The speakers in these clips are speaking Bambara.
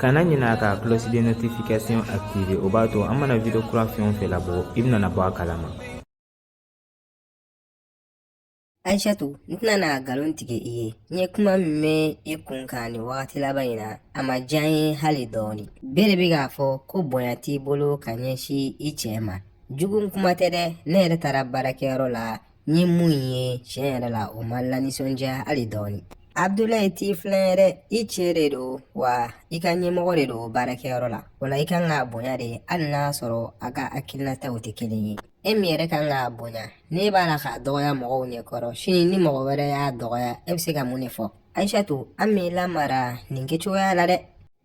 kana ɲinɛ ka cloche de notification activer o b'a to an mana video kura fɛn o fɛn labɔ i bɛna bɔ a kalama Aishatu n tɛna na nkalon tigɛ i ye n ye kuma min mɛn i kun kan nin wagati laban in na a ma diya n ye hali dɔɔni bɛɛ de bɛ k'a fɔ ko bonya t'i bolo ka ɲɛsin i cɛ ma jugu kuma tɛ dɛ ne yɛrɛ taara baarakɛyɔrɔ la n ye mun ye tiɲɛ yɛrɛ la o ma n lanisɔndiya hali dɔɔni abdulayi t'i filan ye dɛ i cɛ de don wa i ka ɲɛmɔgɔ de don baarakɛyɔrɔ la o la i ka kan k'a bonya de hali n'a sɔrɔ a ka hakilinataw tɛ kelen ye e min yɛrɛ ka kan k'a bonya n'e b'a la k'a dɔgɔya mɔgɔw ɲɛkɔrɔ sini ni mɔgɔ wɛrɛ y'a dɔgɔya e bɛ se ka mun de fɔ ayisatu an m'i lamara nin kɛcogoya la dɛ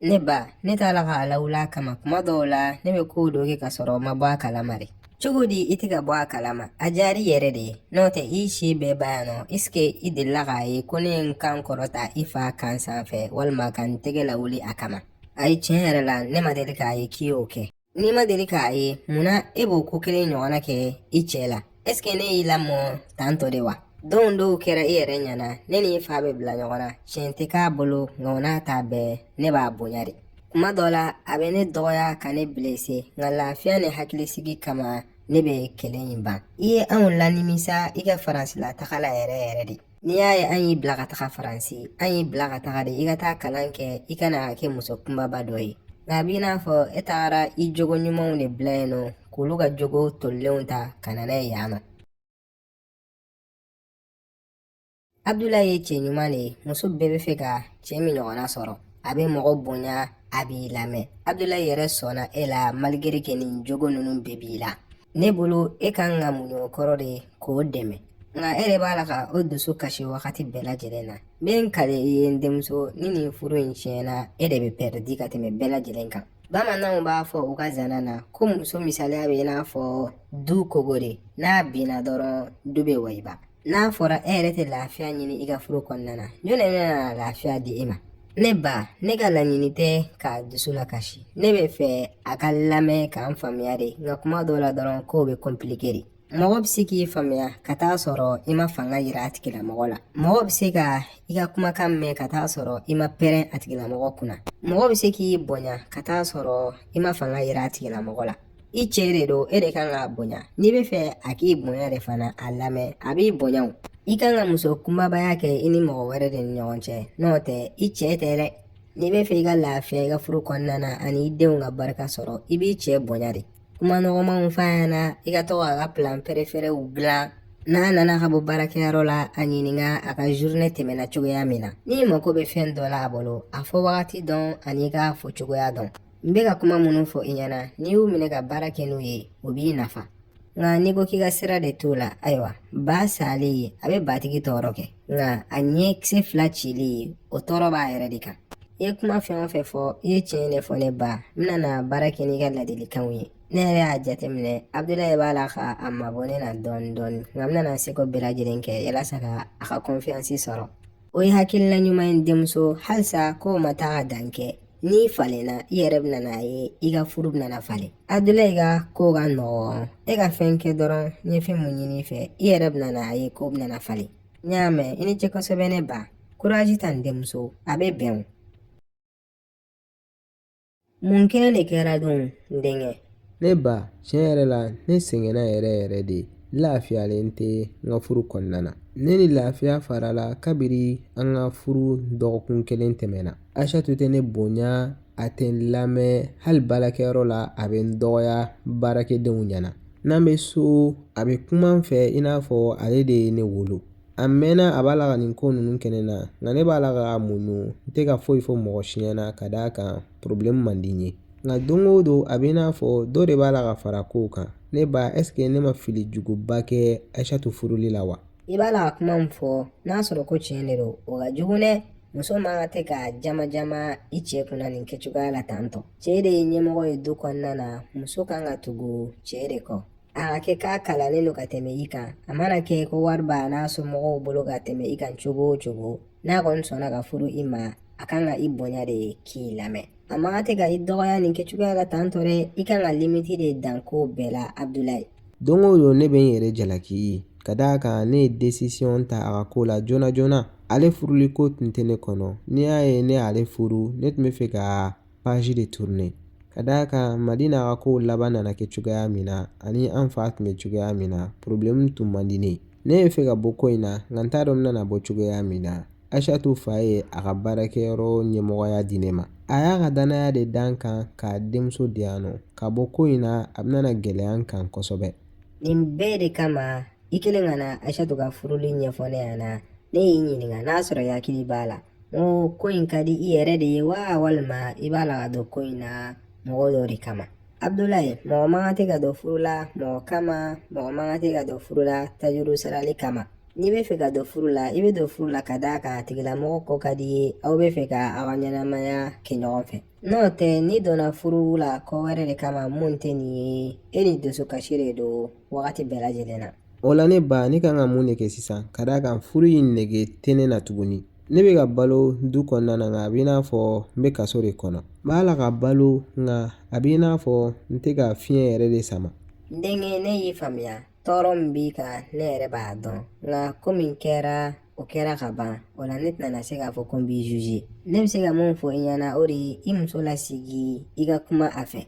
Ne ba ne t'a la k'a lawuli a kama kuma dɔw la ne bɛ kow dɔ kɛ ka sɔrɔ n ma bɔ a kalama de cogo di i tɛ ka bɔ a kalama a diyara i yɛrɛ de ye n'o tɛ i y'i si bɛɛ ban yan nɔ est-ce que i delila k'a ye ko ne ye n kan kɔrɔta i fa kan sanfɛ walima ka n tɛgɛ lawuli a kama ayi tiɲɛ yɛrɛ la ne ma deli k'a ye k'i y'o kɛ n'i ma deli k'a ye munna e b'o ko kelen ɲɔgɔnna kɛ i cɛ la est-ce que ne y'i lamɔ tan tɔ de wa donw dɔw kɛra i yɛrɛ ɲɛna ne ni i fa bɛ bila ɲɔgɔn na tiɲɛ tɛ k'a bolo nka o n'a ta bɛɛ ne b'a bonya de kuma dɔ la a bɛ ne dɔgɔya ka ne bilese nka lafiya ni hakilisigi kama ne bɛ kɛlɛ in ban i ye anw lanimisa i ka faransilataga la yɛrɛ yɛrɛ de n'i y'a ye an y'i bila ka taga faransi an y'i bila ka taga de i ka taa kalan kɛ i ka na kɛ muso kunbaba dɔ ye nka a b'i n'a fɔ e tagara i jogo ɲumanw de bila yen nɔ k'olu ka jogo tolilenw ta ka na n'a ye yan nɔ abdulayi ye cɛ ɲuman de ye muso bɛɛ bɛ fɛ ka cɛ min ɲɔgɔnna sɔrɔ a bɛ mɔgɔ bonya a b'i lamɛn abdulayi yɛrɛ sɔnna e la malgré que nin jogo ninnu bɛɛ b'i la ne bolo e ka kan ka muɲu o kɔrɔ de k'o dɛmɛ nka e de b'a la ka o dusu kasi wagati bɛɛ lajɛlen na n bɛ n kali i ye n denmuso ni nin furu in tiɲɛna e de bɛ pɛrɛdi ka tɛmɛ bɛɛ lajɛlen kan bamananw b'a fɔ u ka zana na ko muso misaliya bɛ i n'a fɔ du kogo de n'a binna dɔrɔn du bɛ wayiba n'a fɔra e yɛrɛ tɛ lafiya ɲini i ka furu kɔnɔna na jɔn de bɛna lafiya di e ma ne ba ne ka laɲini tɛ k'a dusu lakasi ne bɛ fɛ a ka n lamɛn ka n faamuya de nka kuma dɔw la dɔrɔn kow bɛ kɔnpilike de mɔgɔ bɛ se k'i faamuya ka t'a sɔrɔ i ma fanga yira a tigilamɔgɔ la mɔgɔ bɛ se ka i ka kumakan mɛn ka t'a sɔrɔ i ma pɛrɛn a tigilamɔgɔ kunna mɔgɔ bɛ se k'i bonya ka t'a sɔrɔ i ma fanga yira a tigilamɔgɔ la i cɛ de don e de kan k'a bonya n'i bɛ fɛ a k'i bonya de fana a lamɛn a b'i bonya o i kan ka muso kunbabaya kɛ i ni mɔgɔ wɛrɛ de ni ɲɔgɔn cɛ n'o tɛ i cɛ tɛ dɛ n'i bɛ fɛ i ka lafiya i ka furu kɔnɔna na ani i denw ka barika sɔrɔ i b'i cɛ bonya de kuma nɔgɔmanw f'a ɲɛna i ka to k'a ka pilan pɛrɛfɛrɛw dilan n'a nana ka bɔ baarakɛyɔrɔ la a ɲininka a ka zurinɛ tɛmɛna cogoya min na n'i mako bɛ fɛn dɔ la a bolo a fɔ wagati dɔn ani i k'a fɔ cogoya dɔn n bɛ ka kuma minnu fɔ i ɲɛna n'i y'u minɛ ka baara kɛ n'u ye o b'i nafa nka n'i ko k'i ka sira de t'o la ayiwa ba sali ye a bɛ batigi tɔɔrɔ kɛ nka a ɲɛkisɛ fila cili ye o tɔɔrɔ b'a yɛrɛ de kan i ye kuma fɛn o fɛn fɔ i ye tiɲɛ de fɔ ne ba n bɛna baara kɛ n'i ka ladilikanw ye ne yɛrɛ y'a jateminɛ abudulayi b'a la ka a mabɔ ne na dɔɔni dɔɔni nka n bɛna seko bɛɛ lajɛlen kɛ yalasa ka a ka kɔnfiyansi sɔrɔ o ye hakilina ɲuman ye denmuso halisa kow ma taa ka dan kɛ n'i falenna i yɛrɛ bɛna a ye i ka furu bɛna falen abudulayi ka ko ka nɔgɔn e ka fɛn kɛ dɔrɔn n ye fɛn min ɲini i fɛ i yɛrɛ bɛna a ye ko bɛna falen n y'a mɛn i ni ce kosɛbɛ ne ba kurazi ta n denmuso a bɛ bɛn o Mun kelen de kɛra dun denkɛ ne ba tiɲɛ yɛrɛ la ne sɛgɛnna yɛrɛ yɛrɛ de lafiyalen tɛ n ka furu kɔnɔna na ne ni lafiya farala kabiri an ka furu dɔgɔkun kelen tɛmɛna aishatu tɛ ne bonya a tɛ n lamɛn hali baarakɛyɔrɔ la a bɛ n dɔgɔya baarakɛdenw ɲɛna n'an bɛ so a bɛ kuma n fɛ i n'a fɔ ale de ye ne wolo a mɛnna a b'a la ka nin ko ninnu kɛ ne na nka ne b'a la ka a muɲu n tɛ ka foyi fɔ mɔgɔ si ɲɛna ka d'a kan porobilɛmu man di n ye nka don o don a bɛ i n'a fɔ dɔ de b'a la ka fara kow kan ne ba ɛseke ne ma fili juguba kɛ aishatu furuli la wa i b'a la ka kuma min fɔ n'a sɔrɔ ko tiɲɛ de don o ka jugu dɛ muso man kan tɛ ka jama jama i cɛ kunna nin kɛcogoya la tantɔ cɛ de ye ɲɛmɔgɔ ye du kɔnɔna na muso kan ka tugu cɛ de kɔ A ka kɛ k'a kalannen don ka tɛmɛ i kan a mana kɛ ko wari b'a n'a somɔgɔw bolo ka tɛmɛ i kan cogo o cogo n'a kɔni sɔnna ka furu i ma a kan ka i bonya de k'i lamɛn a man kan tɛ ka i dɔgɔya nin kɛcogoya la tan tɔ dɛ i kan ka limiti de dan kow bɛɛ la abudulayi don o don ne bɛ n yɛrɛ jalaki ka d'a kan ne ye desisiyɔn ta a ka ko la joona joona ale furuli ko tun tɛ ne kɔnɔ n'i y'a ye ne y'ale furu ne tun bɛ fɛ ka page de tourner ka d'a kan mali n'a ka kow laban nana kɛ cogoya min na ani an fa tun bɛ cogoya min na porobilɛmu tun man di ne ye ne bɛ fɛ ka bɔ ko in na nka n t'a dɔn n bɛna bɔ cogoya min na aishatu fa ye a ka baarakɛyɔrɔ ɲɛmɔgɔya di ne ma a y'a ka dannaya de da n kan k'a denmuso di yan ne ka bɔ ko in na a bɛna gɛlɛya n kan kosɛbɛ nin bɛɛ de kama i kɛlen ka na aishatu ka furuli ɲɛfɔ ne ɲɛna ne y'i ɲininka n'a sɔrɔ i hakili b'a la oo ko in ka di i yɛrɛ de ye wa walima i b'a la ka don ko in na mɔgɔ dɔ de kama abdulayi mɔgɔ man kan tɛ ka don furu la mɔgɔ kama mɔgɔ man kan tɛ ka don furu la tajuru sarali kama n'i bɛ fɛ ka don furu la i bɛ don furu la ka d'a kan a tigilamɔgɔ ko ka di i ye aw bɛ fɛ ka aw ka ɲɛnamaya kɛ ɲɔgɔn fɛ n'o tɛ n'i donna furu la ko wɛrɛ de kama mun tɛ nin ye e ni dusukasi de don wagati bɛɛ lajɛlen na o la ne ba ne kan ka mun de kɛ sisan ka d'a kan furu in nege tɛ ne na tuguni ne bɛ ka balo du kɔnɔna na nka a bɛ i n'a fɔ n bɛ kaso de kɔnɔ n b'a la ka balo nka a bɛ i n'a fɔ n tɛ ka fiɲɛ yɛrɛ de sama n denkɛ ne y'i faamuya tɔɔrɔ min b'i kan ne yɛrɛ b'a dɔn nka ko min kɛra o kɛra ka ban o la ne tɛna se k'a fɔ ko n b'i juge ne bɛ se ka mun fɔ i ɲɛna o de ye i muso lasigi i ka kuma a fɛ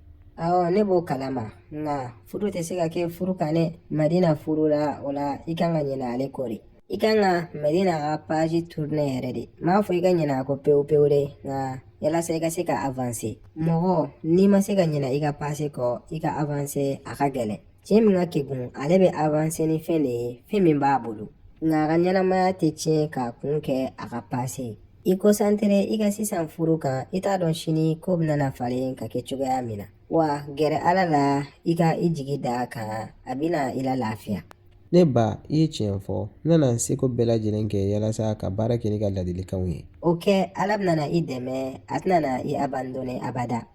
awɔ ne b'o kalama nka furu tɛ se ka kɛ furu kan dɛ madina furula o la i kan ka ɲinɛ ale kɔ de i kan ka madina ka paji turunɛ yɛrɛ de n m'a fɔ i ka ɲinɛ a kɔ pewu pewu dɛ nka yalasa i ka se ka avanse mɔgɔ n'i ma se ka ɲinɛ i ka pase kɔ i ka avanse a ka gɛlɛn cɛ min ka kegun ale bɛ avanse ni fɛn de ye fɛn min b'a bolo nka a ka ɲɛnamaya tɛ tiɲɛ k'a kun kɛ a ka pase ye i kɔnsantere i ka sisan furu kan i t'a dɔn sini ko bɛna falen ka kɛ cogoya min na wa gɛrɛ ala la i ka i jigi da a kan a bɛna i lalafiya ne ba i ye tiɲɛ fɔ n nana n seko bɛɛ lajɛlen kɛ yalasa ka baara kɛ n'i ka ladilikanw ye o kɛ ala bɛna i dɛmɛ a tɛna i abandone abada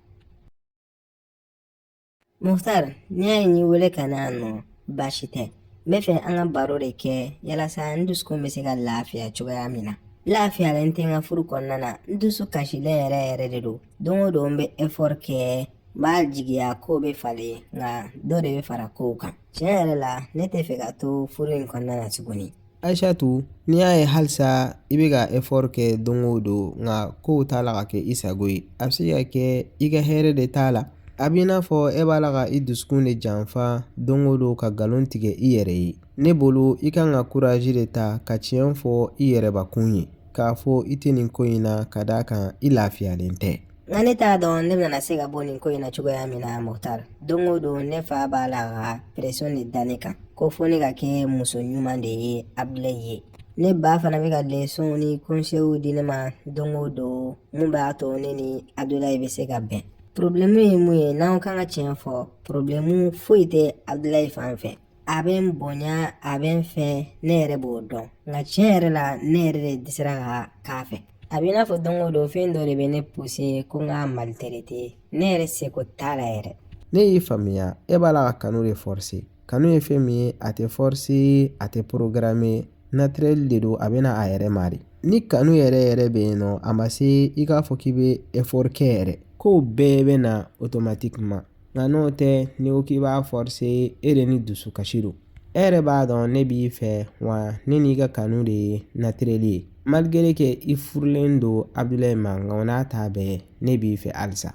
Muhtar n'i y'a ye n y'i wele ka na yan nɔ baasi tɛ n bɛ fɛ an ka baro de kɛ yalasa n dusukun bɛ se ka lafiya cogoya min na n lafiyalen tɛ n ka furu kɔnɔna na n dusu kasilen yɛrɛ yɛrɛ de don don o don n bɛ effort kɛ n b'a jigiya ko bɛ falen nka dɔ de bɛ fara kow kan tiɲɛ yɛrɛ la ne tɛ fɛ ka to furu in kɔnɔna na tuguni Ayisatu n'i y'a ye halisa i bɛ ka efɔri kɛ don o don nka kow t'a la ka kɛ i sago ye a bɛ se ka kɛ i ka hɛrɛ de t'a la a b'i n'a fɔ e b'a la ka i dusukun de janfa don o don ka nkalon tigɛ i yɛrɛ ye ne bolo i kan ka kuraji de ta ka tiɲɛ fɔ i yɛrɛbakun ye k'a fɔ i tɛ nin ko in na ka d'a kan i lafiyalen tɛ nka ne t'a dɔn ne bɛna se ka bɔ nin ko in na cogoya min na muhtar don o don ne fa b'a la ka presɔn de da ne kan ko fo ne ka kɛ muso ɲuman de ye abdulayi ye ne ba fana bɛ ka lesɔnw ni kɔnsew di ne ma don o don mun b'a to ne ni abdulayi bɛ se ka bɛn porobilɛmu ye mun ye n'an kan ka tiɲɛ fɔ porobilɛmu foyi tɛ abdulayi fan fɛ a bɛ n bonya a bɛ n fɛ ne yɛrɛ b'o dɔn nka tiɲɛ yɛrɛ la ne yɛrɛ de dɛsɛra ka k'a fɛ a bɛ i n'a fɔ don o don fɛn dɔ de bɛ ne puse ko n k'a maliterete ne yɛrɛ seko t'a la yɛrɛ ne y'i faamuya e b'a la ka kanu de fɔrse kanu ye fɛn min ye a tɛ fɔrse a tɛ porogarame natirɛli de don a bɛ na a yɛrɛ ma de ni kanu yɛrɛ yɛrɛ bɛ yen nɔ a ma se i k'a fɔ k'i bɛ ɛfɔri kɛ yɛrɛ kow bɛɛ bɛ na otomatikiman Nka n'o tɛ n'i ko k'i b'a fɔrse e de ni dusukasi don e yɛrɛ b'a dɔn ne b'i fɛ wa ne n'i ka kanu de ye natirɛli ye maligere ke i furulen don abudulayi ma nka o n'a ta bɛɛ ne b'i fɛ halisa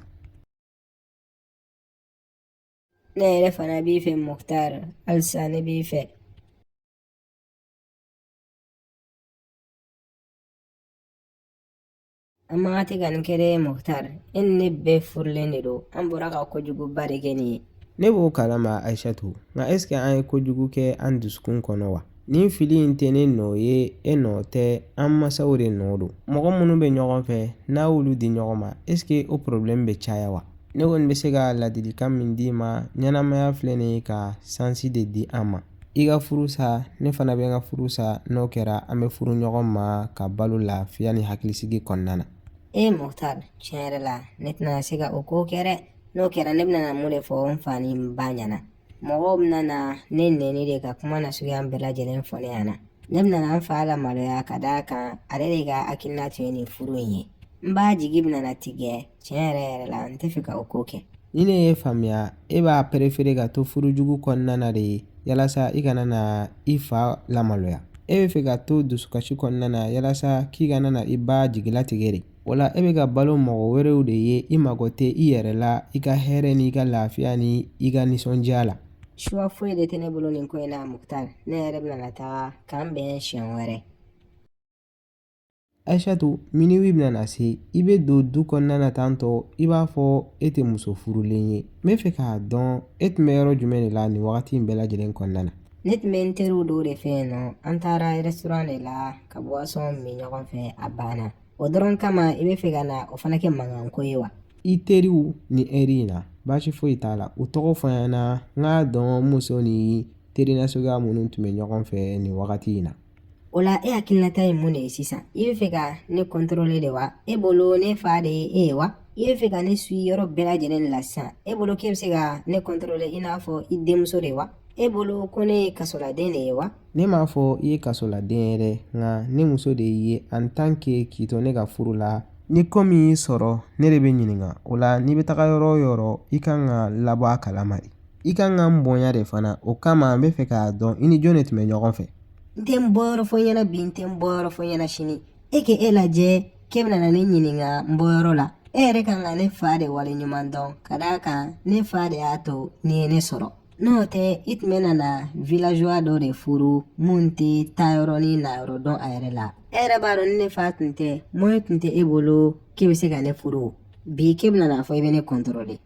ne yɛrɛ fana b'i fɛ mukutari halisa ne b'i fɛ An man kan tun ka nin kɛ dɛ mukutari e ni ne bɛɛ furulen de don an bɔra ka kojuguba de kɛ nin ye ne b'o kalama ayisatu nka ɛsike an ye kojugu kɛ an dusukun kɔnɔ wa nin fili in tɛ ne nɔ ye e nɔ tɛ an masaw de nɔ don mɔgɔ minnu bɛ ɲɔgɔn fɛ n'u y'olu di ɲɔgɔn ma ɛsike o porobilɛmu bɛ caya wa ne kɔni bɛ se ka ladilikan min d'i ma ɲɛnamaya filɛ nin ye ka sansi de di an ma i ka furu sa ne fana bɛ n ka furu sa n'o kɛra an bɛ furu ɲɔgɔn ma ka balo lafiya ni hakilisigi kɔnɔna na e mukutari tiɲɛ yɛrɛ la ne tɛna se ka o ko kɛ dɛ n'o kɛra ne bɛna mun de fɔ n fa ni n ba ɲɛna mɔgɔw bɛna na ne nɛni de ka kuma nasuguya bɛɛ lajɛlen fɔ ne ɲɛna ne bɛna n fa lamaloya ka d'a kan ale de ka hakilina tun ye nin furu in ye n ba jigi bɛna tigɛ tiɲɛ yɛrɛ yɛrɛ la n tɛ fɛ ka o ko kɛ ni ne y'i faamuya e b'a perefere ka to furujugu kɔnɔna na de yalasa i kana na i fa lamaloya e bɛ fɛ ka to dusukasi kɔnɔna na yalasa k'i kana na i ba jigilatigɛ de o la e bɛ ka balo mɔgɔ wɛrɛw de ye i mago tɛ i yɛrɛ la i ka hɛrɛ n'i ka lafiya ni i ka nisɔndiya la suwa foyi de tɛ ne bolo nin ko in na mukutari ne yɛrɛ bɛna na taga k'an bɛn siɲɛ wɛrɛ Ayisatu miniwi bɛna na se i bɛ don du kɔnɔna na tantɔ i b'a fɔ e tɛ muso furulen ye n bɛ fɛ k'a dɔn e tun bɛ yɔrɔ jumɛn de la nin wagati in bɛɛ lajɛlen kɔnɔna na ne tun bɛ n teriw dɔw de fɛ yen nɔ an taara rɛsitoran de la ka buwasɔn min ɲɔgɔn fɛ a banna o dɔrɔn kama i bɛ fɛ ka na o fana kɛ mankanko ye wa i teriw nin ɛri in na baasi foyi t'a la u tɔgɔ fɔ n ɲɛna n k'a dɔn muso ni teri nasuguya minnu tun bɛ ɲɔgɔn fɛ nin wagati in na o la e hakilinata ye mun de ye sisan i bɛ fɛ ka ne kɔntɔrɔle de wa e bolo ne fa de ye e ye wa i bɛ fɛ ka ne suyi yɔrɔ bɛɛ lajɛlen de la sisan e bolo k'e bɛ se ka ne kɔntɔrɔle i n'a fɔ i denmuso de wa e bolo ko ne ye kasoladen de ye wa ne m'a fɔ i ye kasoladen ye dɛ nka ne muso de y'i ye en tant que k'i to ne ka furu la ni ko min y'i sɔrɔ ne de bɛ ɲininka o la n'i bɛ taga yɔrɔ o yɔrɔ i kan ka n labɔ a kalama de i kan ka n bonya de fana o kama n bɛ fɛ k'a dɔn i ni jɔn de tun bɛ ɲɔgɔn fɛ n tɛ n bɔyɔrɔ fɔ i ɲɛna bi n tɛ n bɔyɔrɔ fɔ i ɲɛna sini e k'e e lajɛ k'e bɛna na ne ɲininka n bɔyɔrɔ la e yɛrɛ kan ka ne fa de waleɲuman dɔn ka d'a kan ne fa de y'a to n'i ye ne sɔrɔ n'o tɛ i tun bɛna na villageois dɔ de furu min tɛ taayɔrɔ ni nayɔrɔ dɔn a yɛrɛ la e yɛrɛ b'a dɔn ni ne fa tun tɛ moyen tun tɛ e bolo k'e bɛ se ka ne furu bi k'e bɛna n'a fɔ i bɛ ne contrôler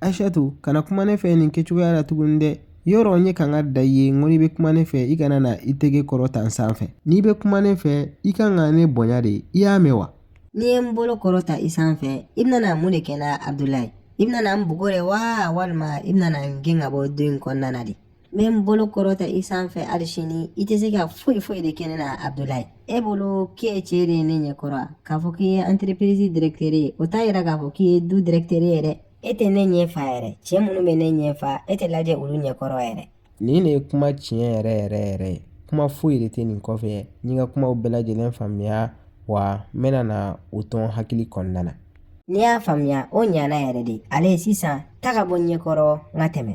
asetu kana kuma ne fɛ nin kɛcogoya la tuguni dɛ yɔrɔ n ye kankari da i ye n ko n'i bɛ kuma ne fɛ i kana na i tɛgɛ kɔrɔta n sanfɛ n'i bɛ kuma ne fɛ i ka kan ka ne bonya de i y'a mɛn wa n'i ye n bolo kɔrɔta i sanfɛ i bɛna na mun de kɛ n na abudulayi i bɛna na n bugɔ de wa walima i bɛna na n gɛn ka bɔ du in kɔnɔna na de n bɛ n bolo kɔrɔta i sanfɛ hali sini i tɛ se ka foyi foyi de kɛ ne na abudulayi e bolo k'e ye cɛ de ye ne ɲɛ kɔrɔ k'a fɔ k'i ye anterepirizi dɛrɛkitɛri ye o t'a yira k'a fɔ k'i ye du dɛrɛkitɛri ye dɛ e tɛ ne ɲɛ fa yɛrɛ cɛ minnu bɛ ne ɲɛ fa e tɛ lajɛ olu ɲɛ kɔrɔ yɛrɛ nin de ye kuma tiɲɛ yɛrɛ yɛrɛ yɛrɛ ye kuma foyi de tɛ nin kɔfɛ i ye n ka kumaw bɛɛ lajɛlen faamuya wa n bɛna na o don i hakili kɔnɔna na n'i y'a faamuya o ɲana yɛrɛ de allez sisan taga bɔ n ɲɛkɔrɔ n ka tɛmɛ